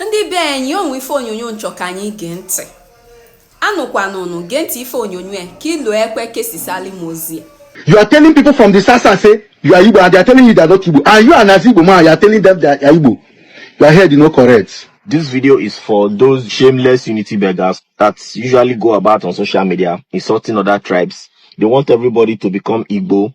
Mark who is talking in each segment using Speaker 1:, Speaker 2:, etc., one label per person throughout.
Speaker 1: ndị be anyị o nwe ife onyonyo n chọ ka anyị gee ntị anụkwanụnụ gee ntị ife onyonyo a ka i lu ekwe kesisali m ozi a You are telling people from the South-South say you are Igbo and they are telling you they are not Igbo. And you as an Igbo man, you are telling them they are Igbo. Your head is not correct. This video is for those shameless unity beggars that usually go about on social media insulting other tribes. They want everybody to become Igbo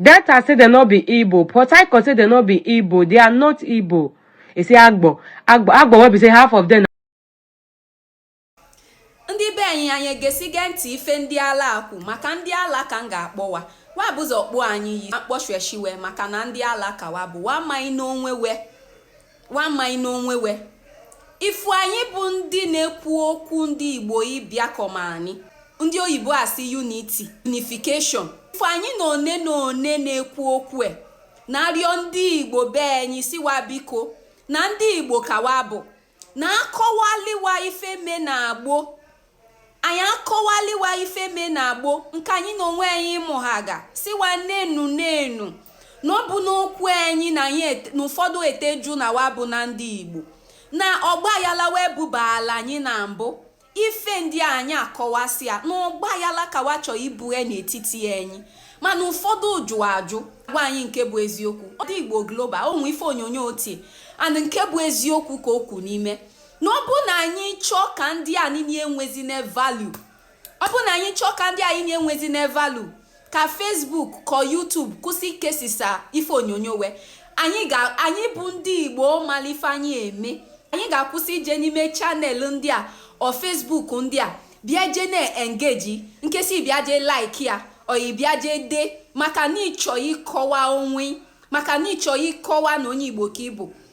Speaker 1: Delta say dem no be Igbo, Port Harcourt say dem no be Igbo, they are not Igbo. He say Agbor, Agbor, Agbor wey be say half of them ndị be anyị anyị egesiga ntị ife ndị ala ekwu maka ndị ala ka m ga-akpọ wa wa bu ụzọ kpọọ anyị iyi m kpọsheshi we maka na ndị ala ka wa bụ wa amaghị n'onwe we wa amaghị n'onwe we ị fụ anyị bụ ndị na-ekwu okwu ndị igbo ịbịakọma anyị ndị oyibo sị unity unification ị fụ anyị na one na one na-ekwu okwu e na-arịọ ndị igbo be anyị sị wa biko na ndị igbo ka wa bụ na-akọwali wa ife mee na gboo anyị akọwali wa ife mee na gboo nke anyị na onwe anyị mụhaga sị wa nenu nenu na ọ bụ n'okwu anyị na anyị na ụfọdụ eteju na wa bụ na ndị igbo na ọgba ayala wa bubala anyị na mbụ ife ndị anyị akọwasịa na ọgba ayala ka wa chọọ ibughe n'etiti anyị mana ụfọdụ jụ ajụ gwa anyị nke bụ eziokwu ọ dị igbo global o nwe ife onyonyo o tie and nke bụ eziokwu ka o kwu n'ime na ọ bụ na anyị chọọ ka ndị a niile enwezina value ọ bụ na anyị chọọ ka ndị a niile enwezina value ka Facebook ka YouTube kwụsị ikesisa ife onyonyo we anyị ga anyị bụ ndị Igbo mali ife anyị eme anyị ga-akwụsị ije n'ime channel ndị a or Facebook ndị a bịa jee na-engage nkesi bịa jee like ya or ị bịa jee dee maka na ị chọ ịkọwa onwe maka na ị chọ ịkọwa na onye Igbo ka ị bụ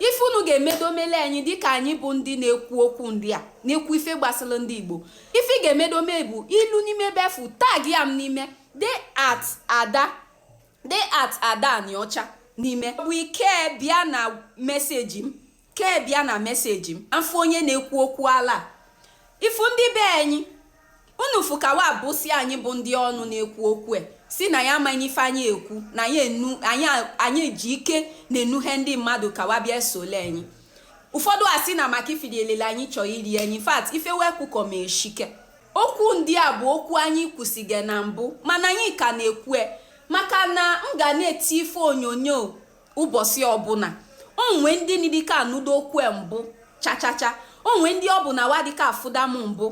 Speaker 1: ife unu ga-emedo mele anyị dịka anyị bụ ndị na-ekwu okwu ndị a na-ekwu ife gbasara ndị igbo ife ị ga-emedo mee bụ i lu n'ime befu tagịa m n'ime dee at ada dee at ada anịọcha n'ime bụ ke bịa na message m ke bịa na message m a fụ onye na-ekwu okwu ala ị fụ ndị be anyị Unu fụ ka wa bụ sị anyị bụ ndị ọnụ na-ekwu okwu e, sị na ya amaghị ife anyị ekwu, na anyị enu anyị anyị ji ike na-enuhe ndị mmadụ ka wa bịa esole anyị. Ụfọdụ asị na maka ife iri elele anyị chọọ iri anyị, in fact ife we kwukọma eshike. Okwu ndị a bụ okwu anyị kwusiga na mbụ mana anyị ka na-ekwu e maka na m ga na-eti ife onyonyo ụbọchị ọbụla o nwe ndị na-adịka anụda okwu mbụ chachacha o nwe ndị ọ bụ na wa adịka afụda m mbụ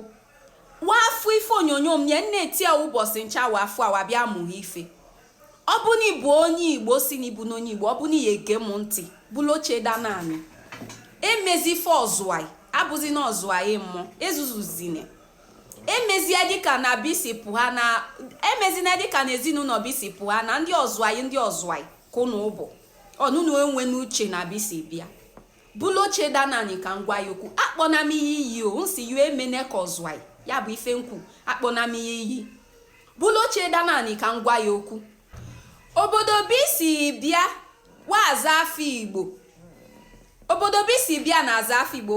Speaker 1: wa fụ ife onyonyo m nye nne etie ụbọchị ncha wa fụ a wa bịa mụrụ ife ọ bụ na ịbụ onye igbo si na ịbụ n'onye igbo ọ bụ na ihe ege m ntị bulu oche daa n'anị emezi ife ọzụai abụzina ọzụai mmụọ ezuzuzine emezie dịka na ebe i si pụha na emezina dịka na ezinụlọ ebe i si pụha na ndị ọzụai ndị ọzụai ka ụnụ ụbụ ọnụnụ enwe n'uche n'ebe i si bịa bulu oche daa n'anị ka m gwa ya okwu akpọna m iyi o m sị yụ emene ka ọzụai ya bụ ife m kwu akpọna m iyi bulu oche daa n'anị ka m gwa ya okwu obodo ebe i si bịa wa azụ afọ igbo obodo ebe i si bịa na-azụ afọ igbo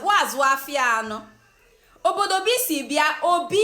Speaker 1: wa azụ afịa anọ obodo ebe i si bịa obi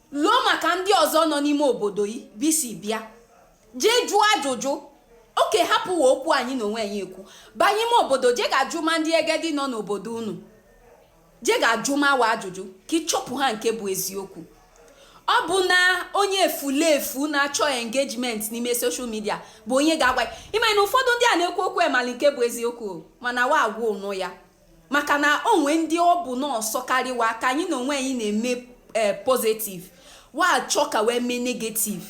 Speaker 1: Lụọ maka ndị ọzọ nọ n'ime obodo ebe i si bịa. Jee jụọ ajụjụ. Okay hapụwa okwu anyị na onwe anyị ekwu. Banye ime obodo je ga jụma ndị egedi nọ n'obodo unu. Je ga jụma wa ajụjụ ka ị chọpụha nke bụ eziokwu. Ọ bụ na onye efulefu na-achọ engagement n'ime social media bụ onye ga-agwa ya. Ị ma na ụfọdụ ndị a na-ekwu okwu emali nke bụ eziokwu o, mana wa agwa ụnụ ya. maka na o nwe ndị ọ bụ na ọ sọkarị wa ka anyị na onwe anyị na-eme eh, positive wa achọ ka wa mee negative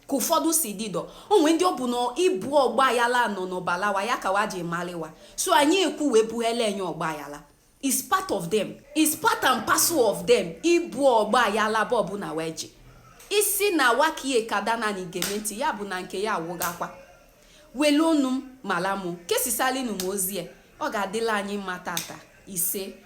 Speaker 1: ka ụfọdụ si dịdọ o nwe ndị ọ bụ na ịbụ ọgba ayala nọ n'ọbala wa ya ka wa ji malị wa so anyị ekwu wee bughele enye ọgba ayala is part of them is part and parcel of them ịbụ ọgba ayala bụ ọbụla wa ji isi na wakie ka daa n'anị gee m ntị ya bụ na nke ya awụghakwa Welụnụ m, mala mụ, kesisalịnụ m ozi a, ọ ga-adịla anyị mma tata. Ise.